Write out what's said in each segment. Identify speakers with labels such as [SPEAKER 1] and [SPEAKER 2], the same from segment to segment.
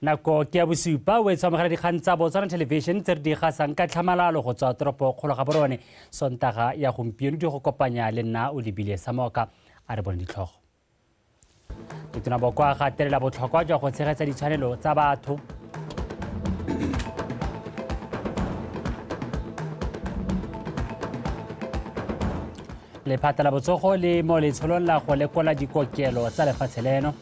[SPEAKER 1] nako ke ya bosupa o e tshwamogela dikgang tsa botswana television tse re di gasang ka tlhamalalo go tswa toropo kgolo ga borone sontaga ya gompieno di go kopanya le nna o lebile samoka a re bone ditlhogo motona boko a gatelela botlhokwa jwa go tshegetsa ditshwanelo tsa batho lephata la botsogo le mo letsholong la go lekola dikokelo tsa lefatshe leno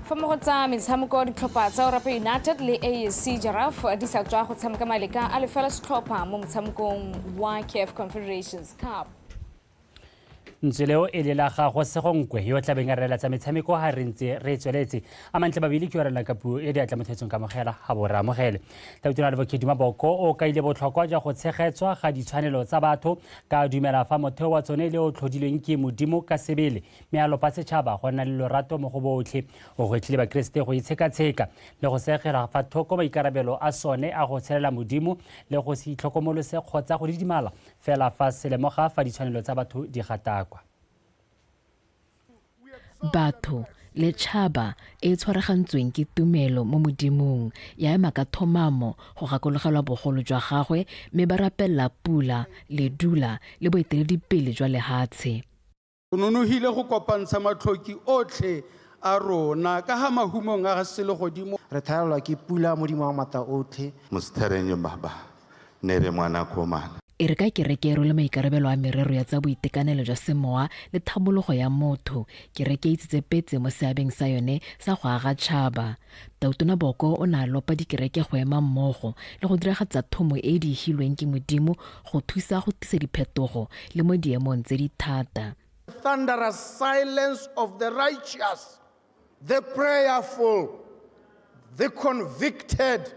[SPEAKER 2] fa mo go tsa metshameko ditlhopha tsa orape united le asc jaraf di sa tswa go tshameka maleka a lefela setlhopha mo motshamekong wa caf confederations cup
[SPEAKER 1] ntswe leo e le la gago segonkwe yo o tlabeng a reela tsa metshameko ga re ntse re tsweletse a mantle babele ke orela ka puo e di atla mothetsong ka mogela ga bo ramogele tabitona le bokedi maboko o kaile botlhokwa jwa go tshegetswa ga ditshwanelo tsa batho ka dumela fa motheo wa tsone le o tlhodilweng ke modimo ka sebele mme a lopa setšhaba go nna le lorato mo go botlhe o gwetlhile bakeresete go itshekatsheka le go segela fa thoko maikarabelo a sone a go tshelela modimo le go se itlhokomolose kgotsa go didimala fela fa se lemoga fa ditshwanelo tsa batho di gatakwa
[SPEAKER 3] batho le tšhaba e tshwaragantsweng ke tumelo mo modimong ya ema ka thomamo go gakologelwa bogolo jwa gagwe mme ba rapelela pula ledula le boeteledipele jwa lehatshe O nonogile
[SPEAKER 4] go kopantsha matlhoki otlhe a rona ka ga mahumong a ga selegodimo. Re thalelwa ke pula
[SPEAKER 5] Modimo wa Maatla Otlhe. Mostherenyo Baba
[SPEAKER 6] ne re ngwana ko mana. E re ka kereke e
[SPEAKER 3] rwele maikarabelo a merero ya tsa boitekanelo jwa semowa le thamologo ya motho. Kereke e tsitse petse mo seabeng sa yone sa go aga tšhaba. Tautona Boko o ne a lopa dikereke go ema mmogo le go diragatsa thomo e e diegilweng ke Modimo go thusa go tlisa diphetogo le mo diemong tse di thata. The thunderous
[SPEAKER 4] silence of the righteous, the prayerful, the convicted,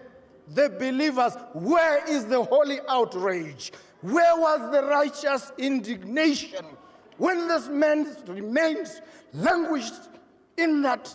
[SPEAKER 4] the believers. Where is the holy outrage? Where was the righteous indignation when this man remains languished in that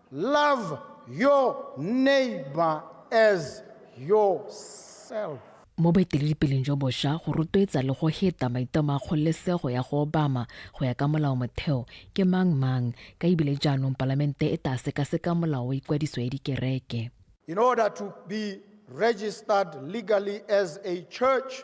[SPEAKER 4] Love your neighbor as yourself. Mo
[SPEAKER 3] boeteledipeleng jo bosha, go rotloetsa le go heta maitamo a kgololesego ya go obama go ya ka molao-motheo ke mang mang, ka ebile jaanong Palamente e taa sekaseka molao wa ikwadiso ya dikereke. In order to
[SPEAKER 4] be registered legally as a church,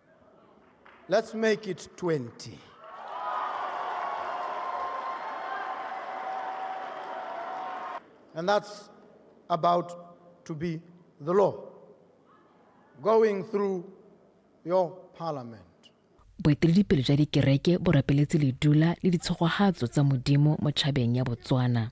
[SPEAKER 4] Let's make it 20. And that's about to be the law going through your parliament. boeteledipele
[SPEAKER 3] jwa dikereke bo rapeletse ledula le ditshogogatso tsa modimo mo tšhabeng ya botswana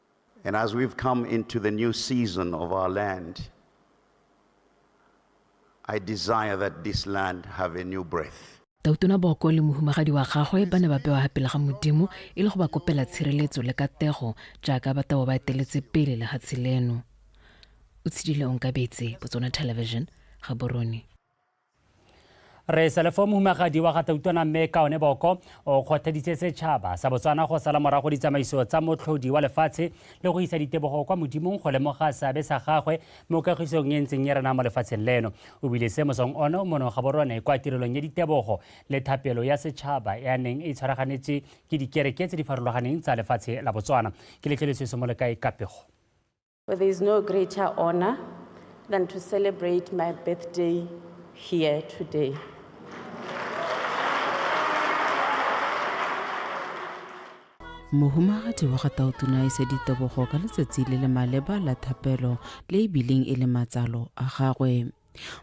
[SPEAKER 6] And as we've come into the new season of our land, I desire that this land have a new breath. tautona boko le
[SPEAKER 3] mohumagadi wa gagwe ba ne ba bewa pele ga modimo e le go ba kopela tshireletso le katego jaaka ba tabo ba eteletse pele le gatshe leno o tshedile onkabetse botsona television gaborone re
[SPEAKER 1] selefo mohumagadi wa gatautwana mme kaone boko o kgothaditse setšhaba sa botswana go sala morago ditsamaiso tsa motlhodi wa lefatshe le go isa ditebogo kwa modimong go lemoga seabe sa gagwe mo kagisong e ntseng e rena mo lefatsheng leno o bile se mosong ono mono ga borone kwa tirelong ya ditebogo le thapelo ya setšhaba e a neng e tshwaraganetswe ke dikereke tse di farologaneng tsa lefatshe la botswana ke letlelesese mo le kae kapego Well, there is
[SPEAKER 7] no greater honor than to celebrate my birthday here today.
[SPEAKER 8] mohumagadi wa ga taotuna e se ditebogo ka letsatsi le le maleba la thapelo le e bileng e le matsalo a gagwe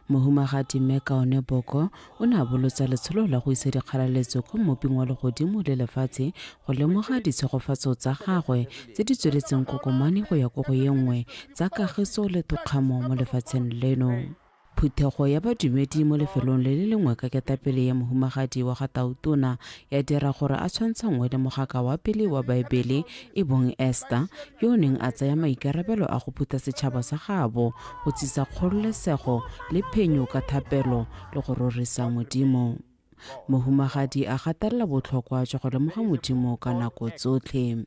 [SPEAKER 8] Mohumagadi Mme Kaone Boko o ne a bolotsa letsholo la go isa dikgalaletso ko mmoping wa legodimo le lefatshe go lemoga ditshegofatso tsa gagwe tse di tsweletseng kokomane go ya ko go ye nngwe tsa kagiso le tokgamo mo lefatsheng leno. Phuthego ya badumedi mo lefelong le le lengwe ka ketapele ya mohumagadi wa ga Tautona ya dira gore a tshwantshanngwe le mogaka wa pele wa Baebele e bong Esta, yo o neng a tsaya maikarabelo a go phutha setšhaba sa gaabo, go tsisa kgololesego le phenyo ka thapelo le go rorisa Modimo. Mohumagadi a gatelela botlhokwa jwa go lemoga Modimo ka nako tsotlhe.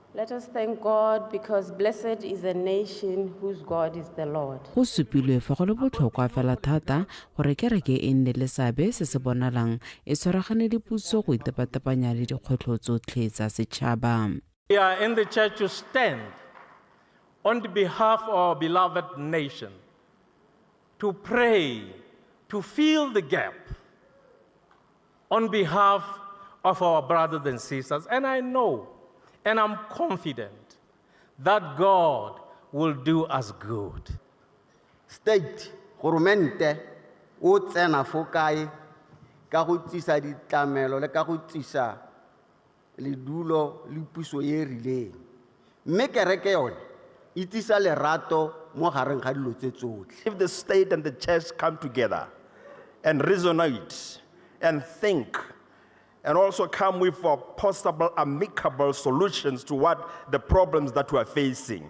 [SPEAKER 7] Let us thank God because blessed is a nation whose God is the Lord. Go supilwe fa go
[SPEAKER 8] le botlhokwa fela thata gore kereke e nne le seabe se se bonalang e tshwaragane le puso go itepatepanya le dikgwetlho tsotlhe tsa setšhaba. We are in the
[SPEAKER 9] church to stand on the behalf of our beloved nation, to pray, to fill the gap. On behalf of our brothers and sisters, and I know and I'm confident that God will do us good.
[SPEAKER 10] state goromente o tsena fo kae ka go tsisa ditlamelo le ka go tsisa ledulo le puso e e rileng. Mme kereke yone e tlisa lerato mo gareng ga dilo tse tsotlhe. If the state and the
[SPEAKER 11] church come together and resonate and think and also come with possible amicable solutions to what the problems that we are facing,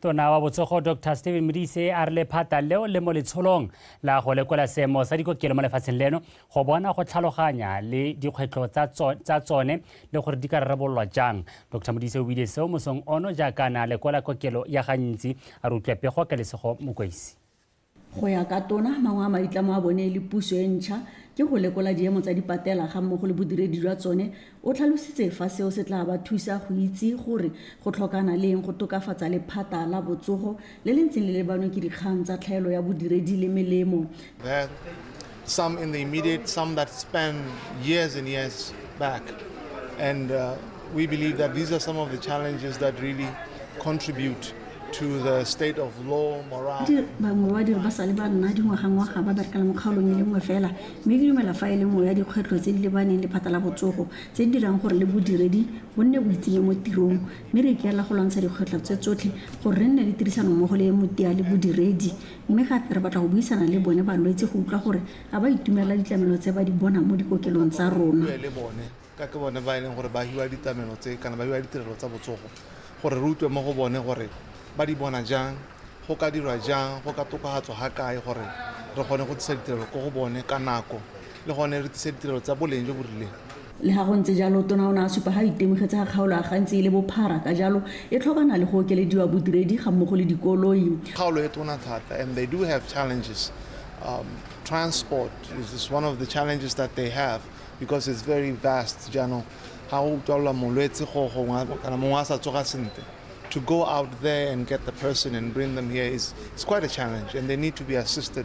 [SPEAKER 1] tona wa botsogo dr stephen modise a re lephata leo le mo letsholong la go lekola seemo sa dikokelo mo lefatsheng leno go bona go tlhaloganya le dikgwetlho tsa tsone le gore di ka rarabololwa jang dr modise o buile seo mosong ono jaaka na lekola kokelo ya gantsi a re utlwa pego ka lesego mokweisi Go ya
[SPEAKER 12] ka Tona, mangwe a maitlamo a bone le puso e ntšha ke go lekola diemo tsa dipatela ga mmogo le bodiredi jwa tsone. O tlhalositse fa seo se tla ba thusa go itse gore go tlhokana le eng go tokafatsa lephata la botsogo le le ntseng le lebanwe ke dikgang tsa tlhaelo ya bodiredi le melemo.
[SPEAKER 13] Some in the immediate, some that span years and years back. And uh, we believe that these are some of the challenges that really contribute to the state of law, morale. bangwe ba diri ba
[SPEAKER 12] sale ba nna dingwagangwaga ba berekela mokgaolong e le nngwe fela mme ke dumela fa e le nngwe ya dikgwetlho tse di lebaneng le phata la botsogo tse di dirang gore le bodiredi bo nne bo itsenye mo tirong mme re ikaela go lwantsha dikgwetlho tse tsotlhe gore re nne le tirisanommogo le e motia le bodiredi Mme gape re batla go buisana le bone balwetse go utlwa gore a ba itumelela ditlamelo tse ba di bonang mo dikokelong tsa rona. Re bue le bone ka
[SPEAKER 13] ke bone ba e leng gore ba hiwa ditlamelo tse kana ba hiwa ditirelo tsa botsogo gore re utlwe mo go bone gore ba di bona jang, go ka dirwa jang, go ka tokafatswa ga kae gore re kgone go tlisa ditirelo ko go bone ka nako le gone re tlise ditirelo tsa boleng jo bo rileng. Le ga
[SPEAKER 12] go ntse jalo, Tona o ne a supa ga a itemogetse ga kgaolo ya gantsi e le bophara ka jalo e tlhokana le go okelediwa bodiredi ga mmogo le dikoloi. Kgaolo e tona thata
[SPEAKER 13] and they do have challenges. Um, transport is, is one of the challenges that they have because it's very vast jaanong ga go utlwalelwa molwetse go gongwe kana mongwe a sa tsoga sentle to go out there and get the person and bring them here is it's quite a challenge and they need to be assisted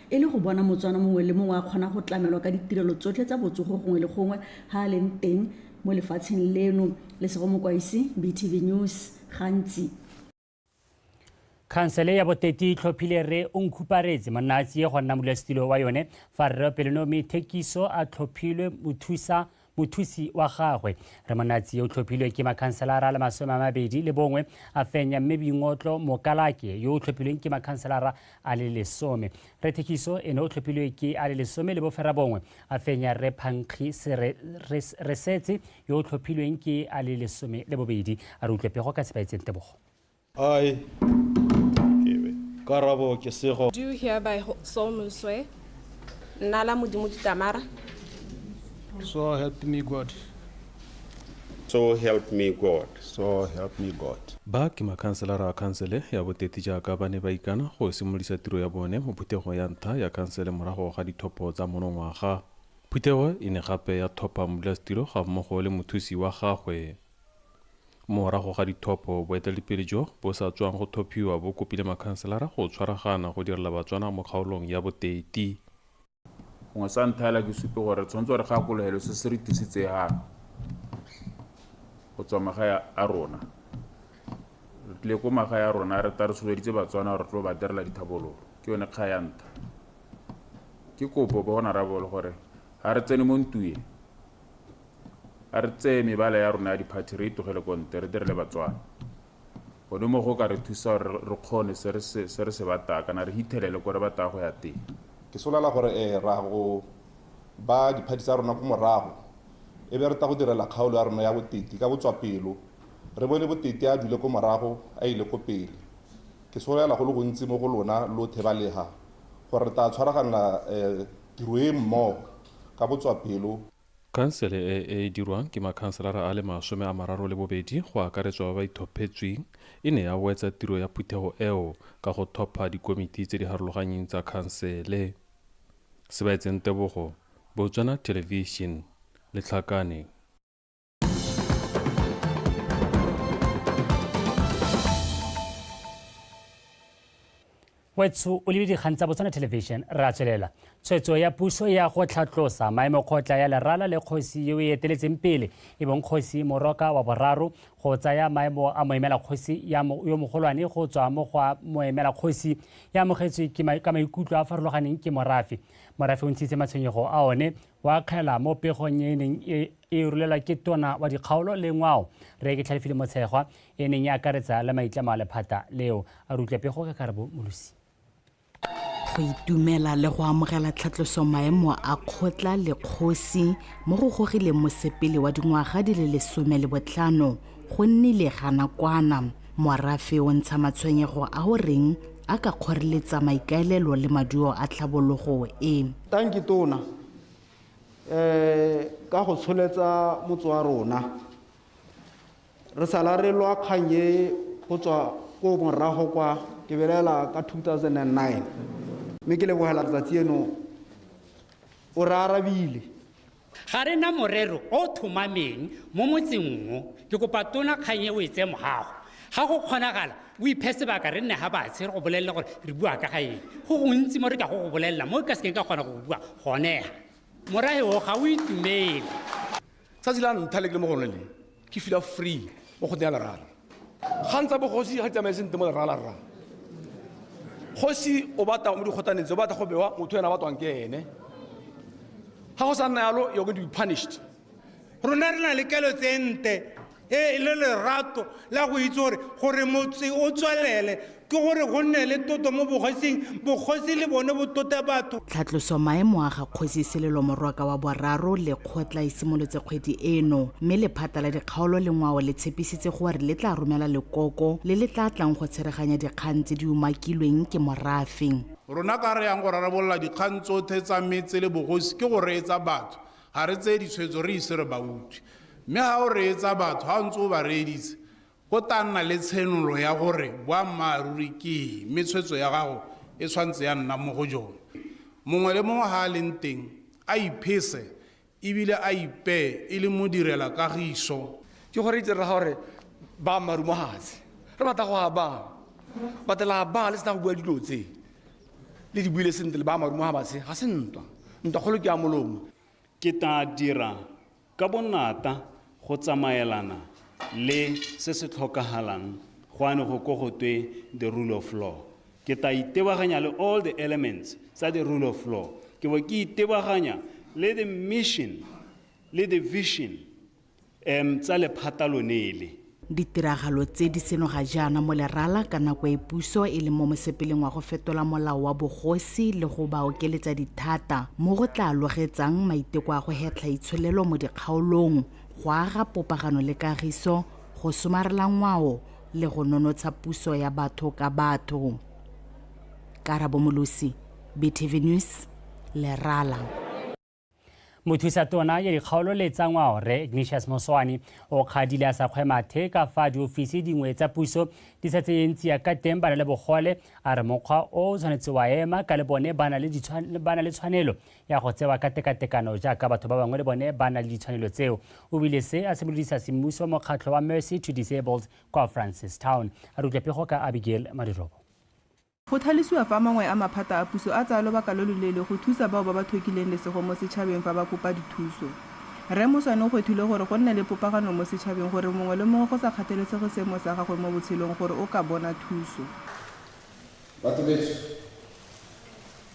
[SPEAKER 12] e le go bona Motswana mongwe le mongwe a kgona go tlamelwa ka ditirelo tsotlhe tsa botsogo gongwe le gongwe ga a leng teng mo lefatsheng leno. Lesego Mokwaisi, BTV News, gantsi.
[SPEAKER 1] Khansele ya Boteti e tlhophile Rre Onkhuparetse Monnaatsie go nna modulasetilo wa yone fa Rre Pelonomi Thekiso a tlhophilwe mothusa mothusi wa gagwe re monatsi yo o tlhophilwe ke makhanselara le masome a mabedi le bongwe a fenya mme boingotlo mokalake yo o tlhophilweng ke makhanselara a le lesome re thekiso ene o tlhophilwe ke a le lesome le bofera bongwe a fenya re phankgi re setse yo o tlhophilweng ke a le lesome le bobedi a re utlwe pego ka sepaetseng tebogo Aye.
[SPEAKER 14] Karabo ke sego. Do hereby ho- solemnly swear Nna la
[SPEAKER 7] Modimo Ditamara,
[SPEAKER 15] So help me God.
[SPEAKER 16] So help me God. So help me
[SPEAKER 15] God. Ba ke makhanselara
[SPEAKER 17] a khansele ya boteti jaaka ba ne ba ikana go simolisa tiro ya bone mo phuthego ya ntlha ya khansele morago ga dithopo tsa monongwaga. Phuthego e ne gape ya thopa modulasetilo ga mmogo le mothusi wa gagwe. Morago ga dithopo, boeteledipele jo bo sa tswang go thophiwa bo kopile makhanselara go tshwaragana go direla Batswana mo kgaolong ya Boteiti.
[SPEAKER 16] Gongwe sa ntlha hela ke supe gore re tshwanetse re gakologelo se se re tlisitsehang go tswa magae a rona. Re tlile ko magae a rona re ta re soloditse Batswana gore re tlo ba direla dithabololo, ke yone kga ya ntlha. Ke kopo bo Honorable gore ha re tsene mo ntuye, a re tseye mebala ya rona ya diphathi re e tlogele ko nte re dire le batswana gone mo go ka re thusa gore re kgone se re se se re se bataya kana re hithelele ko re bataya go ya teng ke solala gore
[SPEAKER 11] eh, ra go ba diphathi tsa rona ko morago e be re ta go direla kgaolo ya rona ya boteti ka botswapelo re bone boteti a dule ko morago a ile ko pele ke solela go le gontsi mo go lona lo thebalega gore re tla tshwaraganela eh, tiro e mmogo ka botswapelo. Khansele e
[SPEAKER 17] e dirwang ke makhanselara a le masome a mararo le bobedi go akaretswa ba ba ithophetsweng e ne ya wetsa tiro ya phuthego eo ka go thopha dikomiti tse di harologanyeng tsa khansele. Sebaetseng Tebogo, Botswana Television, Letlhakane.
[SPEAKER 1] wetsho o lebe dikgang tsa botswana television ra tswelela tshwetso ya puso ya go tlhatlosa maemo kgotla ya lerala le kgosi yo e eteletseng pele e bong kgosi moroka wa boraro go tsaya maemo a moemela kgosi yo mogolwane go tswa mo go moemela kgosi ya amogetswe ka maikutlo a farologaneng ke morafe morafe o ntshitse matshwenyego a one o akgela mo pegong e e neng e, e rulelwa ke tona wa dikgaolo le ngwao re ke tlhalefile motshegwa e neng e akaretsa le maitlamo a lephata leo a rutle pego ka karabo molosi
[SPEAKER 18] go itumela le go amogela tlhatloso maemo a kgotla le kgosi mo go gogileng mosepele wa dingwaga di le lesome le botlhano Go nnile ga nakwana morafe o ntsha matshwenyego a o reng a ka kgoreletsa maikaelelo le maduo a tlhabologo e. Tanki Tona
[SPEAKER 5] um ka go tsholetsa motse wa rona. Re sala re lwa kgang e go tswa ko morago kwa ke belela ka 2009 mme ke lebogela letsatsi eno o re arabile. Ga re
[SPEAKER 19] na morero o o thomameng mo motseng o. Ke kopa Tona kgang e o e tseye mogago. Ga go kgonagala, o iphe sebaka re nne ga batshe re go bolelele gore re bua ka ga eng. Go gontsi mo re ka go go bolelela mo ke ka sekeng ka kgona go go bua gone ga. Morahe o ga o itumele. Tsatsi
[SPEAKER 20] la ntlha le ke le mo go lone le, ke fila free mo go ya lerala kgang tsa bogosi ga di tsamaye sentle mo lerala rra kgosi o batla mo dikgotaneng tse o batla go bewa motho ena batwang ke ene
[SPEAKER 19] ga
[SPEAKER 20] go sa nna
[SPEAKER 19] yalo
[SPEAKER 20] you're going to be punished
[SPEAKER 19] rona
[SPEAKER 20] re na le kelo
[SPEAKER 19] tse
[SPEAKER 20] nte e
[SPEAKER 2] le lerato la go itse gore gore motse o tswelele ke gore go nne le tlotlo mo bokgosing bokgosi le bone bo tlote batho Tlhatloso maemo a
[SPEAKER 18] ga Kgosi Selelo Morwaka wa Boraro le kgotla e simolotse kgwedi eno, mme lephata la dikgaolo le ngwao le tshepisitse gore le tla romela lekoko le le tla tlang go tsheganya dikgang tse di umakilweng ke morafe. Rona ka re yang
[SPEAKER 4] go rarabolola dikgang tsothe tsa metse le bogosi ke go reetsa batho, ga re tseye ditshwetso re ise re ba utswe. Mme ga o reetsa batho, ga o ntse o ba reeditse, Go tla nna le tshenolo ya gore boammaaruri ke eng, mme tshwetso ya gago e tshwanetse ya nna mo go jone. Mongwe le mongwe ga a leng teng, a iphese e bile a ipee e le modirelakagiso. Ke gore itse rraga
[SPEAKER 20] gore baammaaruri mo gatshe re batla go a baa, but la baa le sena go bua dilo tse, le di buile sentle le baammaaruri mo gabatshe ga se ntwa, ntwa kgolo ke ya molomo. Ke tla
[SPEAKER 21] dira Ka bonnata go tsamaelana le se se tlhokagalang go ane go ko go twe the rule of law. Ke ta itebaganya le all the elements tsa the rule of law. Ke bo ke itebaganya le the mission le the vision um tsa lephata lone le. Ditiragalo
[SPEAKER 18] tse di seno ga jaana mo lerala ka nako e puso e leng mo mosepeleng wa go fetola molao wa bogosi le go ba okeletsa dithata mo go tla logetsang maiteko a go hetlha itsholelo mo dikgaolong, go aga popagano le kagiso, go somarela ngwao le go nonotsha puso ya batho ka batho. Karabo Molosi, BTV News, Lerala. mothusa
[SPEAKER 1] tona ya dikgaolo le tsa ngwao re ignatius moswane o kgadile a sa kgwe mathe ka fa diofisi dingwe tsa puso di sa tseyeng tsia ka teng ba na le bogole a re mokgwa o o tshwanetse wa ema ka le bone ba na le ditshwan- ba na le tshwanelo ya go tsewa ka tekatekano jaaka batho ba bangwe le bone ba na le ditshwanelo tseo o bile se a simolodisa semmuso mokgatlho wa mercy to disabled kwa francistown a re utlwa pego ka abigail madirobo Go
[SPEAKER 22] tlhalosiwa fa mangwe a maphata a puso a tsaya lobaka lo loleele go thusa bao ba ba thokileng lesego mo setšhabeng fa ba kopa dithuso. Rre Moswane o kgwethile gore go nne le popagano mo setšhabeng gore mongwe le mongwe go sa kgathalesege seemo sa gagwe mo botshelong gore o ka bona thuso.
[SPEAKER 23] Batho beso.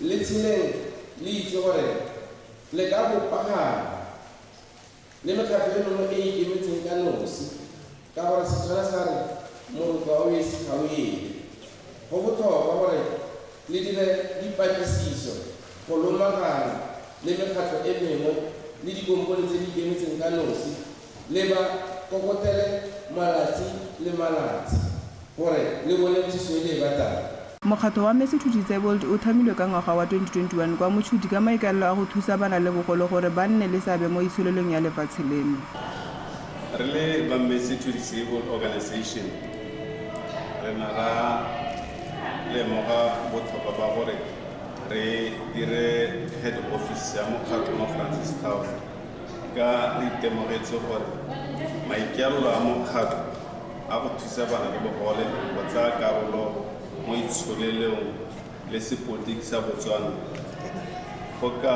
[SPEAKER 23] Le tsheleng le itse gore le ka bopagana le mekgatlho e mengwe e e ikemetseng ka nosi ka gore Setswana sa re morokwa o esi ga o ele. Go botlhokwa gore le dire dipatlisiso go lomagana le mekgatlho e mengwe le dikompone tse di ikemetseng ka nosi le ba kokotele malatsi le malatsi gore le bone thuso e le e batlang. Mokgatlho wa Mercy
[SPEAKER 22] to Disabled o thamilwe ka ngwaga wa 2021 kwa Mochudi ka maikaelelo a go thusa ba na le bogole gore ba nne le seabe mo itsholelong ya lefatshe leno. Re
[SPEAKER 24] le ba Mercy to Disabled Organization re na ra lemoga botlhokwa ba gore re dire head office ya mokgatlho mo Francistown. Ka re itemogetse gore maikaelelo a mokgatlho a go thusa bana le bogole go tsaya karolo mo itsholelong le sepotiki sa Botswana go ka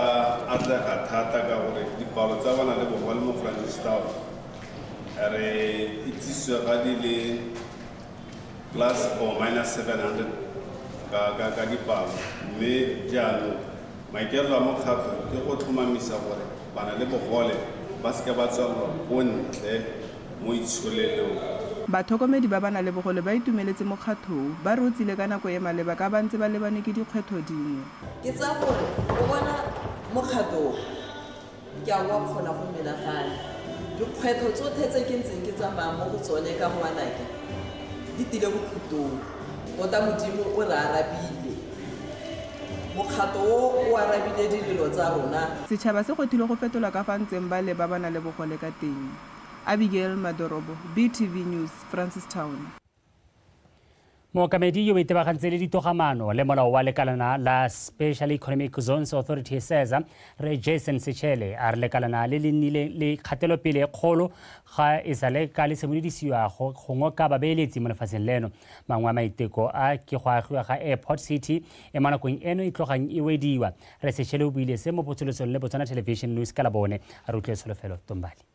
[SPEAKER 24] atlega thata ka gore dipalo tsa bana le bogole mo Francistown re itsisiwe ga di le plus or minus 700 ka dipalo mme jaanong Maikaelelo a Mokgatlho ke go tlhomamisa gore bana le bogole ba seka ba tswalelwa ko ntle mo itsholelong. Batlhokomedi
[SPEAKER 22] ba bana le bogole ba itumeletse mokgatlho o, ba re o tsile ka nako e maleba ka ba ntse ba lebane ke dikgwetlho dingwe. Ke tsaya gore
[SPEAKER 25] o bona mokgatlho o Ke a go akgola go menagane. Dikgwetlho tsotlhe tse ke ntseng ke tsamaya mo go tsone ka ngwanake di tile bokhutlong. Tota Modimo o re arabile. Mokgato o o arabile dilelo tsa rona. Setšhaba se kgethilwe go
[SPEAKER 22] fetola ka fa ntseng ba lebabana le bogole ka teng. Abigail Madorobo, BTV News, Francistown.
[SPEAKER 1] mookamedi yo o itebagantse le ditogamaano le molao wa lekalana la special economic zones authority seza re jason sechele a re lekalana le le nnile le kgatelopele e kgolo ga e sa le ka le simolodisiwa go ngoka babeeletsi mo lefatsheng leno mangwe a maiteko a ke go agiwa ga airport city e mo nakong eno e tlogang e wediwa re sechele o buile se mo potsolosong le botswana television news ka labone a re utlwe tsholofelo tombali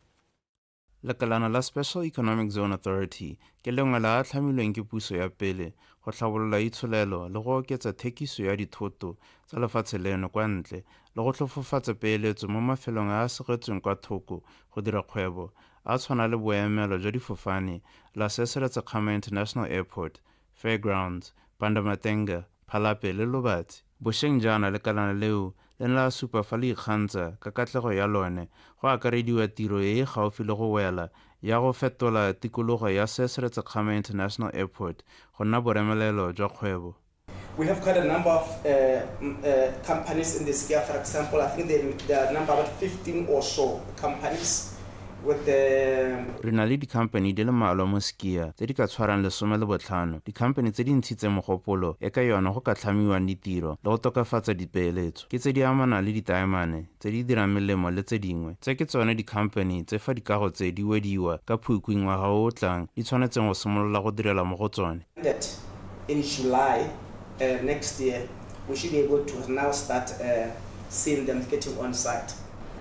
[SPEAKER 3] Lekalana la Special Economic Zone Authority ke lengwe la a tlhamilweng ke puso ya pele go tlhabolola itsholelo le go oketsa thekiso ya dithoto tsa lefatshe leno kwa ntle le go tlhofofatsa peeletso mo mafelong a a segetsweng kwa thoko go dira kgwebo a tshwana le boemelo jwa difofane la Seseletsekgama International Airport, Fairgrounds, Pandamatenga, Phalape le Lobatsi. Bosheng jaana lekalana leo le ne la supa fa le ikgantsha ka katlego ya lone, go akarediwa tiro e e gaufi le go wela ya go fetola tikologo ya Sesre Tsekgame International Airport go nna boremelelo jwa kgwebo. We have quite
[SPEAKER 6] a number of companies in this area, for example, I think there are number about fifteen or so companies. re na le dikhamphani
[SPEAKER 3] di le mmalwa mo Skia tse di ka tshwarang lesome le botlhano, dikhamphani tse di ntshitseng mogopolo e ka yona go ka tlhamiwang ditiro le go tokafatsa dipeeletso ke tse di amanang le ditaemane tse di dirang melemo le tse dingwe. Tse ke tsone dikhamphani tse fa dikago tse di wediwa ka Phukwi ngwaga o o tlang di tshwanetseng go simolola go direla mo go tsone.
[SPEAKER 6] um next year we should be able to now start um seeing them getting on site.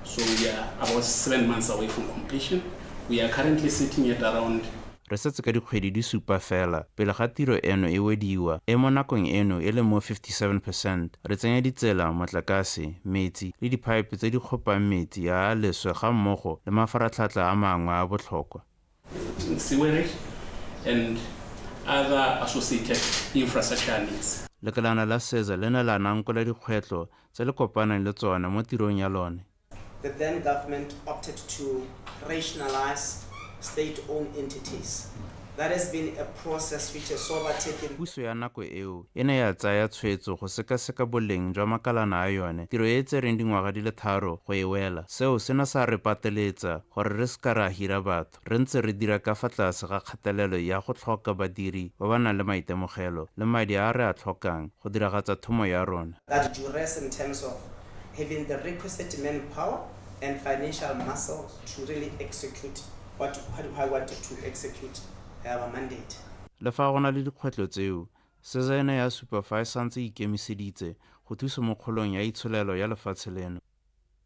[SPEAKER 6] So we
[SPEAKER 26] are about seven months away from completion. We are currently sitting at around re setse ka dikgwedi
[SPEAKER 3] di supa fela pele ga tiro eno e wediwa e mo nakong eno e le mo 57 percent re tsenya ditsela motlakase metsi le diphaepe tse di kgopang metsi a a leswe ga mmogo le mafaratlhatlha a mangwe a botlhokwa
[SPEAKER 26] sewerage and other associated infrastructure needs. Lekalana la SEZA
[SPEAKER 3] le ne la nankola dikgwetlho tse le kopanang le tsone mo tirong ya lone. The then
[SPEAKER 6] government opted to rationalize state-owned entities. That has been a process which has overtaken. Puso ya nako eo
[SPEAKER 3] e ne ya tsaya tshwetso go sekaseka boleng jwa makalana a yone, tiro e e tsereng dingwaga di le tharo go e wela. Seo se ne sa re pateletsa gore re se ka ra hira batho re ntse re dira ka fa tlase ga kgatelelo ya go tlhoka badiri ba ba nang le maitemogelo le madi a re a tlhokang go diragatsa thomo ya rona. That duress in
[SPEAKER 6] terms of having the requisite manpower and financial muscle to really execute what I wanted to execute our mandate. Le fa go na le
[SPEAKER 3] dikgwetlho tseo, SEZA e ne ya supa fa e santse e ikemiseditse go thusa mo kgolong ya itsholelo ya lefatshe leno.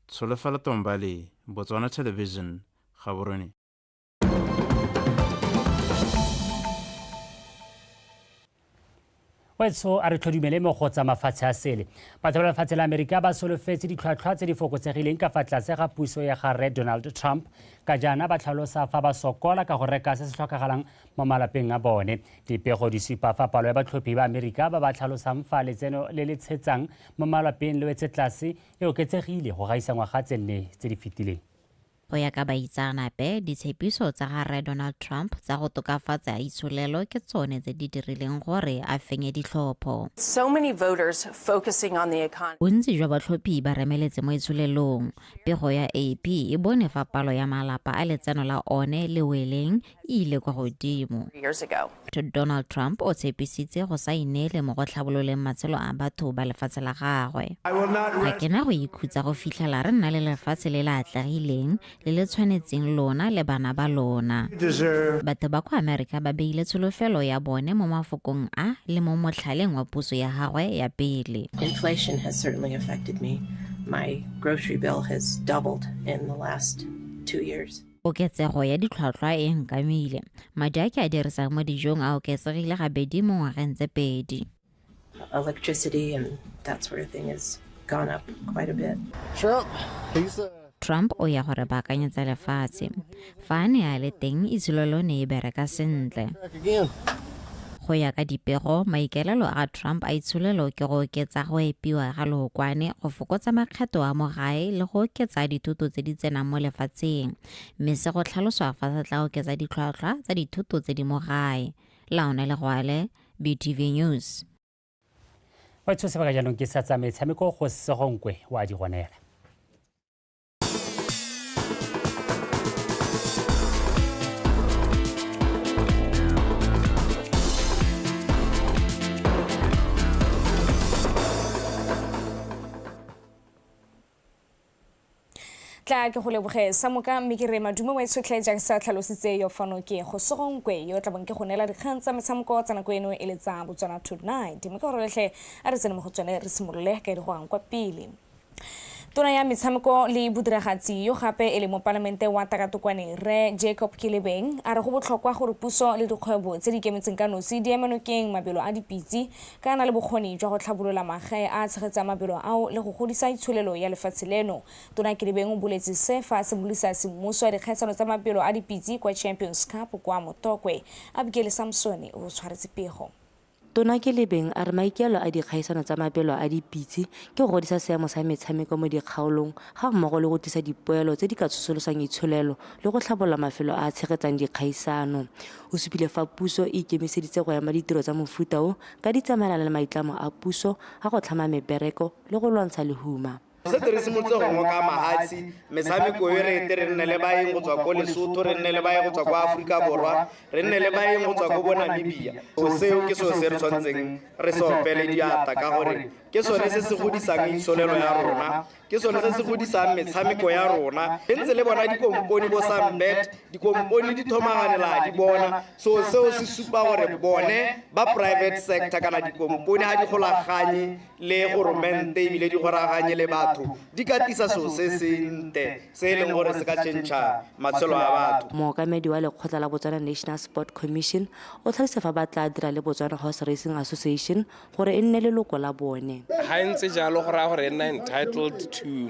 [SPEAKER 3] Tsholofelo Tombali, Botswana Television, Gaborone.
[SPEAKER 1] wetso a re tlhodumele mo go tsa mafatshe a sele batho ba lefatshe la amerika ba solofetse ditlhwatlhwa tse di fokotsegileng ka fa tlase ga puso ya ga rre donald trump ka jaana ba tlhalosa fa ba sokola ka go reka se se tlhokagalang mo malapeng a bone dipego di supa fa palo ya batlhophi ba amerika ba ba tlhalosang fa letseno le le tshetsang mo malapeng le wetse tlase e oketsegile go gaisa ngwaga tse nne tse di fetileng. Go ya ka
[SPEAKER 8] baitsaanape, ditshepiso tsa ga Rre Donald Trump tsa go tokafatsa itsholelo ke tsone tse di dirileng gore a fenye ditlhopho.
[SPEAKER 9] Bontsi jwa batlhophi
[SPEAKER 8] ba remeletse mo itsholelong. Pego ya AP e bone fa palo ya malapa a letseno la one le weleng e ile kwa godimo.
[SPEAKER 9] Donald Trump
[SPEAKER 8] o tshepisitse go sa inele mo go tlhabololeng matshelo a batho ba lefatshe la gagwe. Ga ke na go ikhutsa go fitlhela re nna le lefatshe le le atlegileng le le tshwanetseng lona le bana ba lona. Batho ba kwa Amerika ba beile tsholofelo ya bone mo mafokong a le mo motlhaleng wa puso ya gagwe ya pele. Inflation has
[SPEAKER 9] certainly affected me. My grocery bill has doubled in the last two years. Koketsego ya
[SPEAKER 8] ditlhwatlhwa e nkamile. Madi a ke a dirisang mo dijong a oketsegile gabedi mo ngwageng tse pedi.
[SPEAKER 9] Trump
[SPEAKER 8] o ya gore baakanyetsa lefatshe. Fa a ne a le teng, itsholo lo ne e bereka sentle. Go ya ka dipego, maikaelelo a Trump a itsholelo ke go oketsa go epiwa ga lookwane, go fokotsa makgetho a mo gae le go oketsa dithoto tse di tsenang mo lefatsheng, mme se go tlhaloswa fa se tla oketsa ditlhwatlhwa tsa dithoto tse di mo gae. Laone Legwale, BTV News.
[SPEAKER 1] Wa tsho sebaka jaanong ke sa tsa metshameko go segonkwe wa di gonela.
[SPEAKER 7] tla ke go leboge sa moka mme ke re madumo wa itshotlhe jaaka sa tlhalositse yo fano ke go sogonkwe yo tla bong ke go neela dikgang tsa metshameko tsa nako eno e le tsa botswana tonight mme ka gore letlhe a re tsene mo go tsone re simolole ka e di go kwa pele tona ya metshameko le bodiragatsi yo gape e le mopalamente wa takatokwane re jacob kelebeng a re go botlhokwa gore puso le dikgwebo tse di kemetseng ka nosi di emenokeng mabelo a dipitse ka na le bokgoni jwa go tlhabolola magae a tshegetsang mabelo ao le go godisa itsholelo ya lefatshe leno tona kelebeng o boletse se fa se bolisa semmuso ya dikgaisano tsa mabelo a dipitse kwa champions cup kwa motokwe abikele samsone o tshwaretse pego Tona Kelebeng
[SPEAKER 10] a re maikaelo a dikgaisano tsa mabelo a dipitse ke go godisa seemo sa metshameko mo dikgaolong ga mmogo le go tlisa dipoelo tse di ka tsosolosang itsholelo le go tlhabolola mafelo a a tshegetsang dikgaisano. O supile fa puso e ikemiseditse go ema ditiro tsa mofuta o ka di tsamaelana le maitlamo a puso a go tlhama mebereko le go lwantsha lehuma. setse re simolotse
[SPEAKER 27] go ngoka mahatsi metshameko e re ete re nne le baeng go tswa ko lesotho re nne le baeng go tswa ko aforika borwa re nne le baeng go tswa ko bo namibia so seo ke seo se re tshwanetseng re se opele diata ka gore ke sone se se godisang itsholelo ya rona ke sone se se godisang metshameko ya rona re ntse le bona dikomponi bo sambet dikomponi di thomaganela di bona so seo se supa gore bone ba private sector kana dikomponi ga di golaganye le goromente ebile di goraganye le batho di ka tisa seo se sente se e leng gore se ka tšhentšha matshelo a batho mookamedi wa lekgotla
[SPEAKER 10] la botswana national sport commission o tlhalose fa ba tla dira le botswana horse racing association gore e nne leloko la bone ga e ntse jalo
[SPEAKER 12] go raya gore e nna entitled to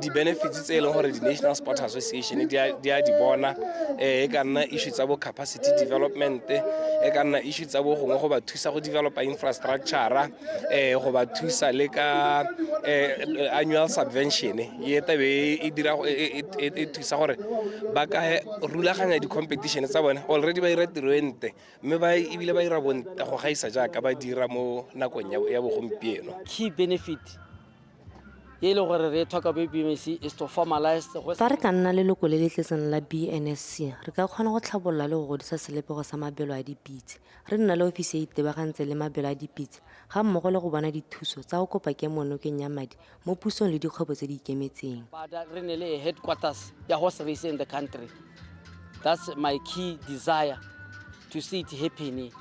[SPEAKER 12] di-benefits tse e leng gore di-national sport association di a di bona um e ka nna issue tsa bo capacity development e ka nna issue tsa bo gongwe go ba thusa go developa infrastructure eh go ba thusa le ka eh, annual subvention e tabe e dira e, e, e, e thusa gore ba ka rulaganya di-competition tsa bone already ba dira tiro e nte mme ba ebile ba dira bonte go gaisa jaaka ba dira mo nakong ya- ya bogompieno key benefit
[SPEAKER 13] e le gore re e tlhoka bo bmc is to formalize go fa re ka nna
[SPEAKER 10] leloko le le tletseng la bnsc re ka kgona go tlhabolola le go godisa selebego sa mabelo a dipitse Re nna le ofisi e e itebagantseng le mabelo a dipitse ga mmogo le go bona dithuso tsa go kopa kemo nokeng ya madi mo pusong le dikgwebo tse di ikemetseng. Re nne le
[SPEAKER 13] headquarters ya horse race in the country. That's my key desire to see it happening.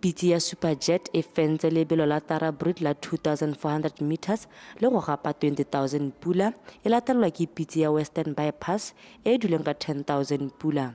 [SPEAKER 13] Pitse
[SPEAKER 10] ya Super Jet e fentse lebelo la Tara Brut la 2,400 metres le go gapa 20,000 pula, e latelelwa ke pitse ya Western Bypass e e duleng ka 10,000 pula.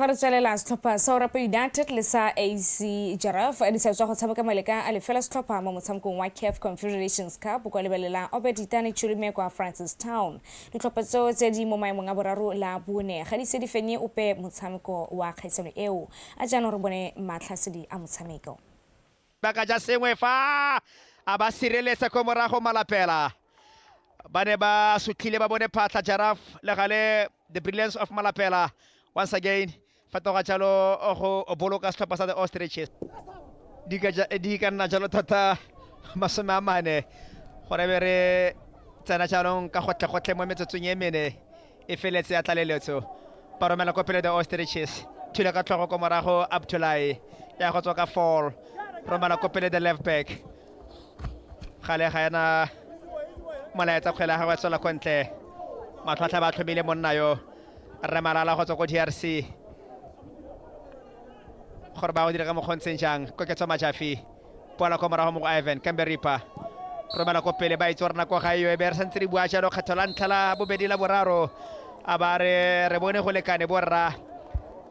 [SPEAKER 7] fa re tswelela setlhopha sa orapa united le sa ac jaraf di sa tswa go tshameka maleka a lefela setlhopha mo motshamekong wa caf confederations cup kwa lebelela obeditane chulume kwa francis town ditlhopha tseo tse di mo maemong a boraro la bone ga di se di fenye ope motshameko wa kgaisano eo a jaanong re bone matlhasedi a motshameko ba ka ja
[SPEAKER 14] sengwe fa a ba sireletsa ko morago malapela ba ne ba sutlhile ba bone phatlha jaraf le gale the brilliance of malapela once again fetoga jalo go boloka setlhopha sa the ostriches di ka ja- di ka nna jalo thata masome a mane gore be re tsena jaanong ka gotlhe-gotlhe mo metsotsong e mene e feletse ya tlaleletso ba romela ko pele the ostriches thule ka tlhogo ko morago abtulae ya go tswa ka fall romela ko pele the left back gale ga ena molaetsa kgwele ya gagwe tswela ko ntle matlhwatlha ba tlhomile monna yo rre malala go tswa ko drc gore ba go dira ka mokgontsheng jang koketso majafi pola kwa morago mo go ivan kambe ripa romela ko pele ba itse gore nako ga eyo e be re santse re bua jalo kgetho la ntlha la bobedi la boraro a ba re re bone go lekane borra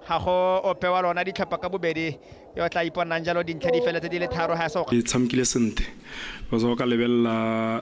[SPEAKER 14] ga go ope wa lona ditlhopha ka bobedi yo tla iponang jalo dintlha di feletse di le tharo ga se tshamekile sentle
[SPEAKER 15] because o ka lebelela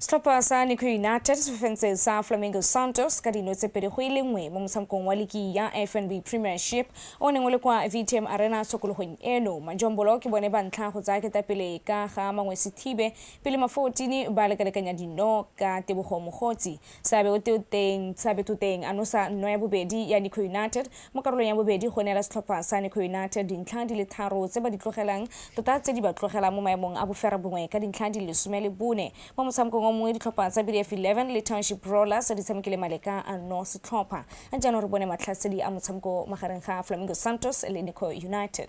[SPEAKER 7] Setlhopha sa Nico United se fofentse sa Flamingo Santos ka dino tse pedi go e le nngwe mo motshamekong wa liki ya FNB Premiership o neng o le kwa VTM Arena tshokologong eno. Majombolo ke bone ba ntlha go tsaya ketapele ka ga Mangwesithibe pele Mafootini ba lekalekanya dino ka Tebogo Mogotsi. Seabe o te o teng, Seabe to teng a nosa nno ya bobedi ya Nico United mo karolong ya bobedi go neela setlhopha sa Nico United dintlha di le tharo tse ba di tlogelang tota tse di ba tlogelang mo maemong a boferebongwe ka dintlha di le lesome le bone. Mo motshamekong o mongwe ditlhopha tsa BDF Eleven le Township Rollers di tshamekile maleka anno setlhopha. Jaanong re bone matlhasedi a motshameko magareng ga Flamingo Santos le Nico United.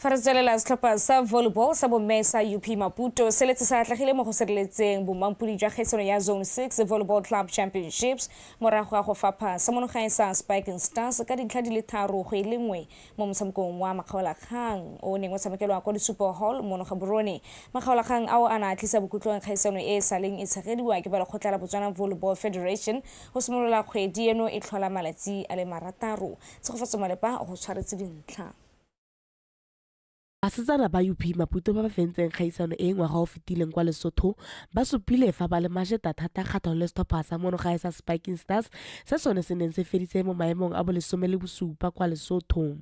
[SPEAKER 11] fa
[SPEAKER 7] re tswelela setlhopha sa volleyball sa bomme sa up maputo se letse sa atlegile mo go sireletseng bomampodi jwa kgaisano ya zone 6 volleyball club championships morago ga go fapha sa monogae sa spiking stars ka dintlha di le tharo go e le nngwe mo motshamekong wa makgaolakgang o neng o tshamekelwa kwa disupo hall mono ga borone makgaolakgang ao a na a tlisa bokhutlong kgaisano e e saleng e tshegediwa ke ba lekgotla la botswana volleyball federation go simolola kgwedi eno e tlhola malatsi a le marataro Tshegofatso Malepa go tshwaretse dintlha.
[SPEAKER 15] Basetsana ba UP Maputo ba ba fentseng kgaisano e ngwaga o fetileng kwa Lesotho ba supile fa ba le majeta thata ga Tholestopha sa mono gae sa Spiking Stars se sone se neng se feditse mo maemong a bolesome le bosupa kwa Lesotho.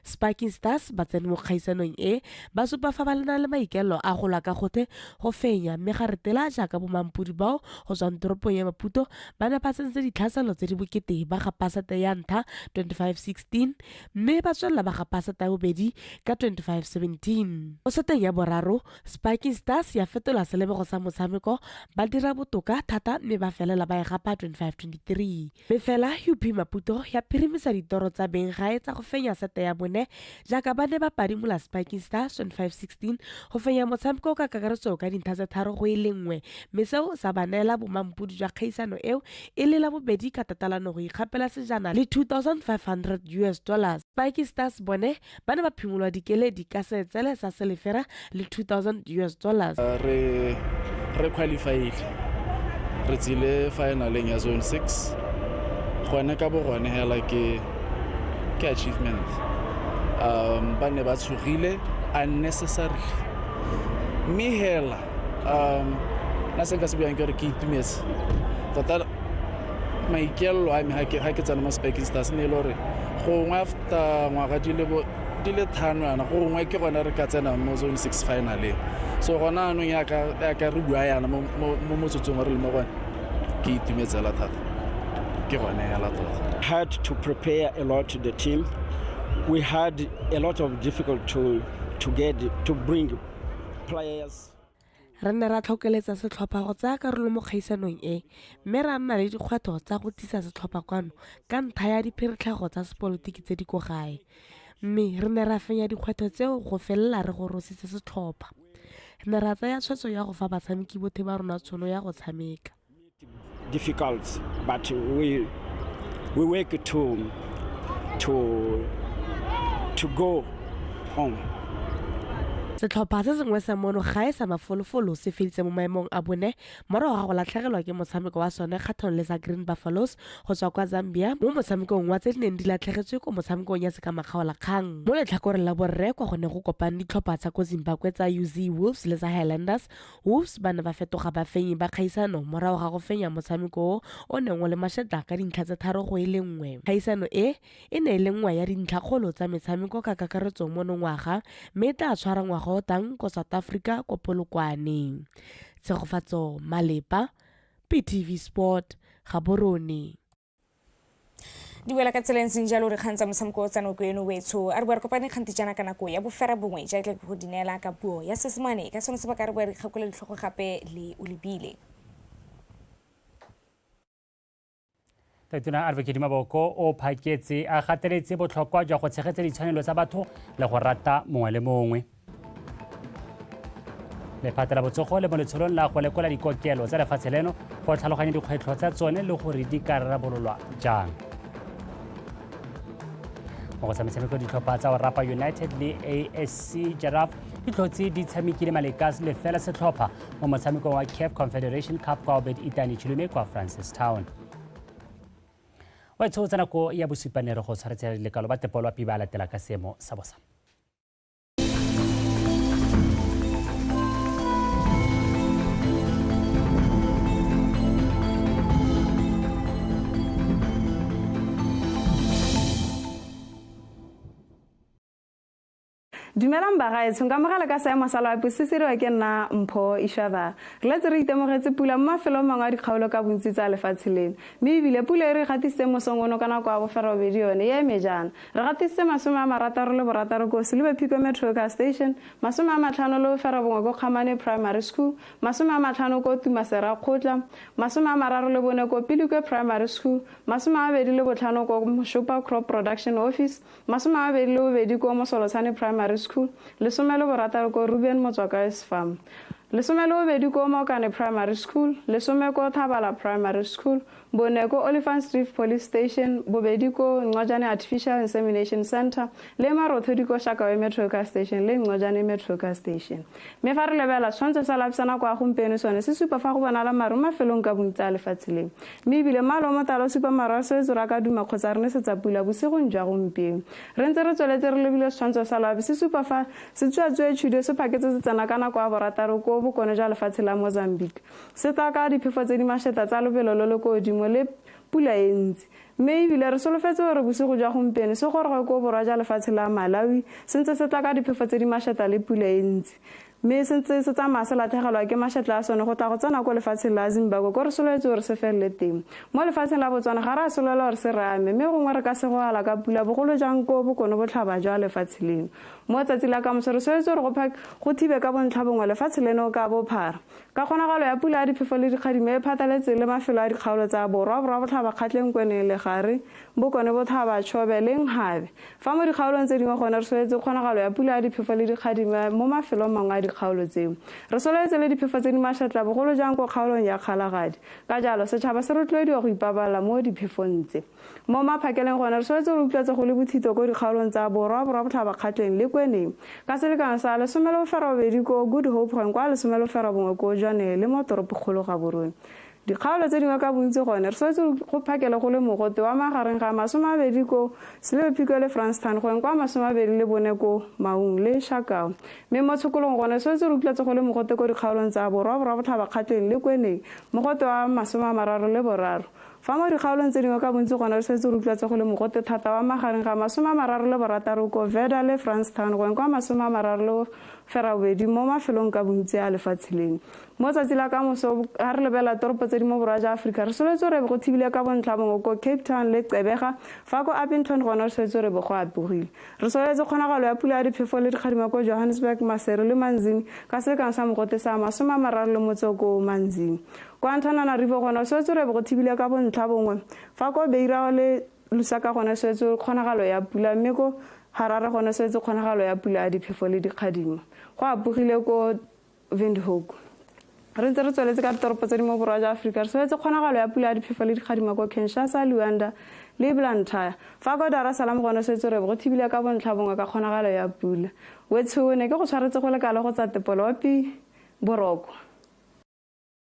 [SPEAKER 15] Spiking Stars ba tsene mo kgaisanong e ba supa fa ba lena le maikelo a go lwa ka gothe go fenya mme ga retela jaaka bomampodi bao go tswang toropong ya Maputo ba ne ba tsentse ditlhaselo tse di bokete ba ga Pasata ya ntlha 2516 mme ba tswelela ba ga Pasata ya bobedi ka 2517. Mo seteng ya boraro, Spiking Stars ya fetola selebego sa motshameko ba dira botoka thata mme ba felela ba e gapa 2523. Mme fela UP Maputo ya phirimisa ditoro tsa beng gae tsa go fenya sete ya bone jaaka ba ne ba padimola Spiking Stars 2516 go fenya motshameko ka kakaretso ka dintlha tse tharo go e le nngwe mme seo sa ba neela bomampodi jwa kgaisano eo e le la bobedi ka tatalano go ikgapela sejana le 2500 us dollars Spiking Stars bone ba ne ba phimolwa dikeledi ka seetsele sa selefera le 2000 us dollars re
[SPEAKER 4] re qualified re tsile finaleng ya zone 6 gone ka bo gone hela ke ke achievement um ba ne ba tshogile unnecessarily mme hela um na se nka se bjang ke gore ke itumetse tota maikelelo a me ga ke tsena mo speking stars ne e le gore gongwe after ngwaga di le di le thano yana gongwe ke gone re ka tsenang mo zone six finaleng so gone anong yaka re bua yana mo motsotsong wa re le mo gone ke itumetsela thata ke gone hela tota had to prepare
[SPEAKER 16] a lot the team we had a lot of difficult to, to get to bring players Re ne
[SPEAKER 15] ra tlhokeletsa setlhopha go tsaya karolo mo kgaisanong e mme ra nna le dikgwetlho tsa go tlisa setlhopha kwano ka ntlha ya dipheretlhago tsa sepolotiki tse di ko gae. Mme re ne ra fenya dikgwetlho tseo go felela re gorositse setlhopha. Re ne ra tsaya tshwetso ya go fa batshameki bothe ba rona tšhono ya go tshameka. difficult,
[SPEAKER 16] but we we work to to to go home.
[SPEAKER 15] setlhopha se sengwe sa mono ga e sa mafolofolo se feditse mo maemong a bone morago ga go latlhegelwa ke motshameko wa sone kgatlhanong le sa green buffaloes go tswa kwa zambia mo motshamekong wa tse di neng di latlhegetswe ko motshamekong ya sekamakgaola kgang mo letlhakoreng la borre kwa go ne go kopang ditlhopha tsa ko zimbabwe tsa uz wolves le tsa highlanders Wolves ba ne ba fetoga bafenyi ba kgaisano morago ga go fenya motshameko o o neng o le mashetla ka dintlha tse tharo go e le nngwe. Kgaisano e, e ne e le nngwe ya dintlhakgolo tsa metshameko ka kakaretso monongwaga mme e tla tshwara ngwaga o tang ko South Africa ko Polokwane. Tshegofatso Malepa, PTV Sport, Gaborone.
[SPEAKER 7] di wela ka tsela e ntseng jalo re kgang tsa motshameko o tsanoko eno wetsho a re bo re kopane kgante jaana ka nako ya bofera bongwe ja tle go di neela ka puo ya sesemane ka sone se ba ka re bo re kgakole ditlhogo gape le o lebile
[SPEAKER 1] tatona advocate maboko o phaketse a gateletse botlhokwa jwa go tshegetsa ditshwanelo tsa batho le go rata mongwe le mongwe lephata la botsogo le mo letsholong la go lekola dikokelo tsa lefatshe leno go tlhaloganya dikgwetlho tsa tsone le gore di ka rarabololwa jang mo go tshametshameko ditlhopha tsa orapa united le asc jaraf ditlhotse di tshamekile malekas le fela setlhopha mo motshamekong wa caf confederation cup kwa obed itani chilume kwa francistown wa etsho tsa nako ya bosupanere go tshwaretsela lekalo ba tepolwa pi ba latela ka seemo sa bosa
[SPEAKER 22] dumelang bagaetsho ka mogala ka seemo sa loapi se se riwa ke nna mpho ishaba re letse re itemogetse pula mo mafelong mangwe a dikgaolo ka bontsi tsa lefatshe leno mme ebile pula e re gatisitse mosong ono ka nako ya boferobedi yone e eme jaana Re gatisitse masome a marataro le borataro ko Silibe Phiko Metro Car Station, masome a matlhano le boferabongwe ko Kgamane Primary School, masome a matlhano ko Tumasera Kgotla, masome a mararo le bone ko Pilikwe Primary School, masome a mabedi le botlhano ko Moshopa Crop Production Office, masome a mabedi le bobedi ko Mosolotshane Primary School, lesome le borataro ko Ruben Motswakae's Farm. Lesome le bobedi ko Mokane Primary School, lesome ko Thabala Primary School, Bone ko Oliphants Reef Police Station, bobedi ko Ncojane Artificial Insemination Center le marothodi ko Shakawe Metro Car Station le Ncojane Metro Car Station. Mme fa re lebela tshwantsho sa lapisana kwa gompieno sone se supa fa go bonala maru mafelong ka bontsi a lefatshe leo. Mme ebile malo mo tala o supa maru a swetse ra ka duma kgotsa re ne setsa pula bosigong jwa gompieno. Re ntse re tsweletse re lebile setshwantsho sa loabi se supa fa setsuatsue tshudo se phaketse se tsena ka nako ya borataro ko bokone jwa lefatshe la Mozambique. Se tla ka diphefo tse di mašeta tsa lobelo lo lo ko godimo le pula e ntsi. Mme ebile re solofetse gore bosigo jwa gompieno se goroge ko borwa jwa lefatshe la Malawi se ntse se tla ka diphefo tse di mašeta le pula e ntsi. Mme
[SPEAKER 17] se ntse se tsamaya se lathegelwa ke mašetla a sone go tla go tsena ko lefatsheng la Zimbabwe ko re solofetse gore se felele teng. Mo lefatsheng la Botswana ga re a solela gore se re ame mme gongwe re ka segogela ka pula bogolo jang ko bokone botlhaba jwa lefatshe leno. Mo tsatsi la kamoso re solofetse gore go thibe ka bontlhabongwe lefatshe leno ka bophara. Ka kgonagalo ya pula ya diphefo le dikgadimo e phataletse le mafelo a dikgaolo tsa Borwa, Borwa Botlhaba, Kgatleng, Kweneng, Legare, Bokone Bothaba, Chobe le Nkgabe. Fa mo dikgaolong tse dingwe gone re soletse kgonagalo ya pula ya diphefo le dikgadimo mo mafelong mangwe a dikgaolo tseo. Re sololetse le diphefo tse di mašatla bogolo jang ko kgaolong ya Kgalagadi. Ka jalo, setšhaba se rotloediwa go ipabalela mo diphefong tse. Mo maphakeleng gone, re tshwanetse go utlwetse go le bothito ko dikgaolong tsa borwa, borwabotlhabakgatleng le kweneng ka selekano sa lesome le boferobedi ko Good Hope gone kwa lesome le boferobongwe ko Jwaneng le mo toropokgolo Gaborone. Dikgaolo tse dingwe ka bontsi gone, re tshwanetse go phakele go le mogote wa magareng ga masome a bedi ko Selebephiko le Franstown gone kwa masome a bedi le bone ko Maung le Shakao. Mme mo tshokolong gone, re tshwanetse re utlwetse go le mogote ko dikgaolong tsa borwa, borwabotlhabakgatleng le kweneng mogote wa masome a mararo le boraro. Fa mo dikgaolong tse dingwe ka bontsi gone re setse re utlwa tse go le mogote thata wa magareng ga masome a mararo le borataro ko Verda le Franstown go eng kwa masome a mararo le ferabobedi mo mafelong ka bontsi a lefatshe leno. Mo tsatsi la kamoso ga re lebelela toropo tse di mo borwa ja Aforika re soletse re be go thibile ka bontlhabongwe ko Cape Town le Gqeberha fa ko Upington gone re soletse re be go apogile. Re sololetse kgonagalo ya pula ya diphefo le dikgadima ko Johannesburg, Maseru le Manzini ka selekano sa mogote sa masome a mararo le motse o ko Manzini. Kwa Antananarivo gone go swetse go be go thibile ka bontlha bongwe, fa ko Beira le Lusaka gone swetse kgonagalo ya pula mme ko Harare gone swetse kgonagalo ya pula ya diphefo le dikgadima. Go apogile ko Windhoek. Re ntse re tsweletse ka ditoropo tse di mo borwa jwa Aforika, re swetse kgonagalo ya pula ya diphefo le dikgadima kwa Kinshasa, Luanda le Blantyre. Fa kwa Dar es Salaam gone swetse re bo go thibile ka bontlha bongwe ka kgonagalo ya pula. Wetsho o ne ke go tshwaretse go le kalo go tsa tepolopi, boroko.